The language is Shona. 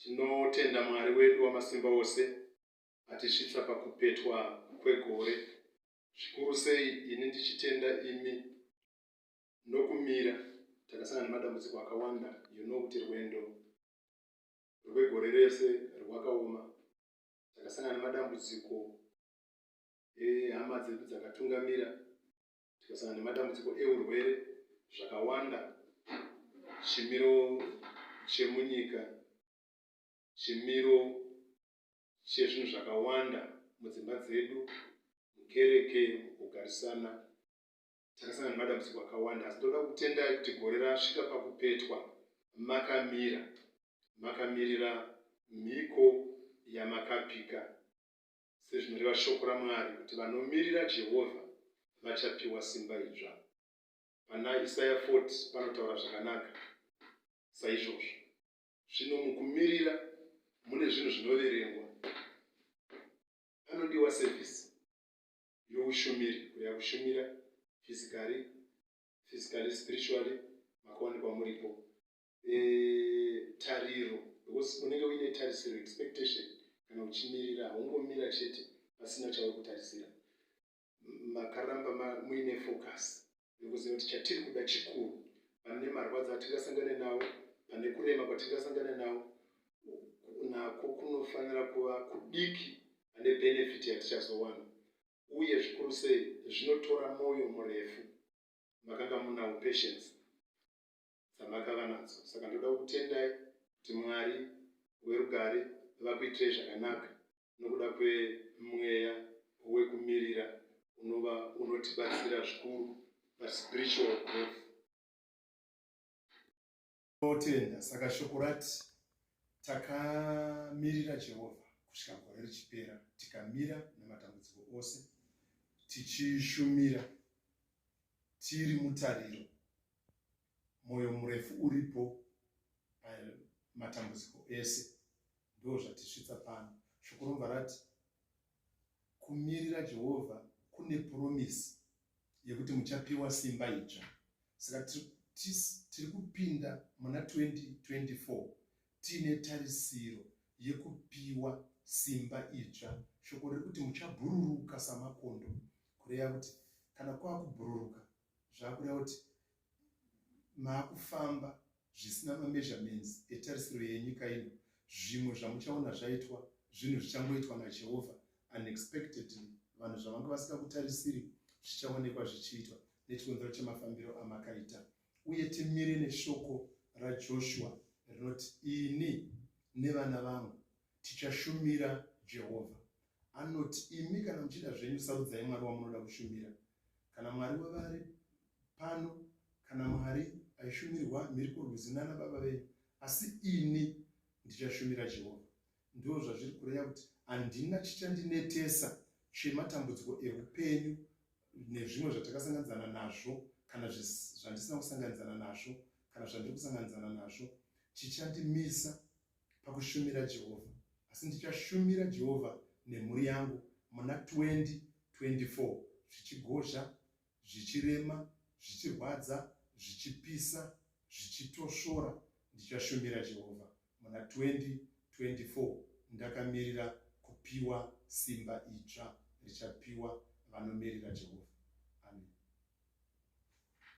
tinotenda mwari wedu wamasimba ose atisvitsa pakupetwa kwegore zvikuru sei ini ndichitenda imi nokumira takasangana nemadambudziko akawanda you know kuti rwendo rwegore rese rwakaoma takasangana nemadambudziko ehama dzedu dzakatungamira tikasangana nematambudziko eurwere zvakawanda chimiro chemunyika chimiro chezvinhu zvakawanda mudzimba dzedu mukereke mukugarisana takasangana nemadambudziko akawanda asi ndoda kutendai kuti gore rasvika pakupetwa makamira makamirira mhiko yamakapika sezvinoreva shoko raMwari kuti vanomirira Jehovha vachapiwa simba idzva. Pana Isaya 40 panotaura zvakanaka saizvozvo. Zvino mukumirira mune zvinhu zvinoverengwa. Panodiwa sevhisi youshumiri, kureva kushumira fizikari, fizikari, spiritually, makawanikwa muripo. eh, tariro because unenge uine tarisiro expectation kana uchimirira haungomira chete pasina chauri kutarisira makaramba muine focus nekuziva kuti chatiri kuda chikuru pane marwadzo atingasangane nawo pane kurema kwatingasangane nawo nako kunofanira kuva kudiki ane benefit yatichazowana uye zvikuru sei zvinotora mwoyo murefu makanga munawo patience dzamakava nadzo saka ndoda kutendai kuti mwari werugare vakuitirei zvakanaka nokuda kwemweya wekumirira unova unotibatsira zvikuru paspiritual growth totenda saka shoko rati takamirira jehovha kusvika gore richipera tikamira nematambudziko ose tichishumira tiri mutariro mwoyo murefu uripo pamatambudziko ese ndo zvatisvitsa pano shoko romva rati kumirira jehovha kune puromisi yekuti muchapiwa simba itsva saka tiri kupinda muna 2024 tiine tarisiro yekupiwa simba itsva shoko riri kuti muchabhururuka samakondo kureva kuti kana kwava kubhururuka zvakuda kuti makufamba zvisina mameasurements etarisiro yenyika ino zvimwe zvamuchaona zvaitwa zvinhu zvichangoitwa najehovha unexpectedly vanhu zvavanga vasingakutarisiri zvichaonekwa zvichiitwa nechikonzero chemafambiro amakaita uye timire neshoko rajoshua rinoti ini nevana vangu Tichashumira Jehovha. Anoti, Imi kana muchida zvenyu, sarudzai Mwari wamunoda kushumira. Kana Mwari wave ari pano, kana Mwari aishumirwa mhiri kurwizi nana baba venyu, asi ini ndichashumira Jehovha. Ndizvo zvazviri kureva kuti handina chichandinetesa chematambudziko eupenyu nezvimwe zvatakasanganidzana nazvo kana zvandisina kusanganidzana nazvo kana zvandiri kusanganidzana nazvo chichandimisa pakushumira Jehovha, asi ndichashumira Jehovha nemhuri yangu muna 2024 zvichigozha, zvichirema, zvichirwadza, zvichipisa, zvichitosvora. Ndichashumira Jehovha muna 2024 ndakamirira kupiwa simba idzva richapiwa vanomirira Jehovha.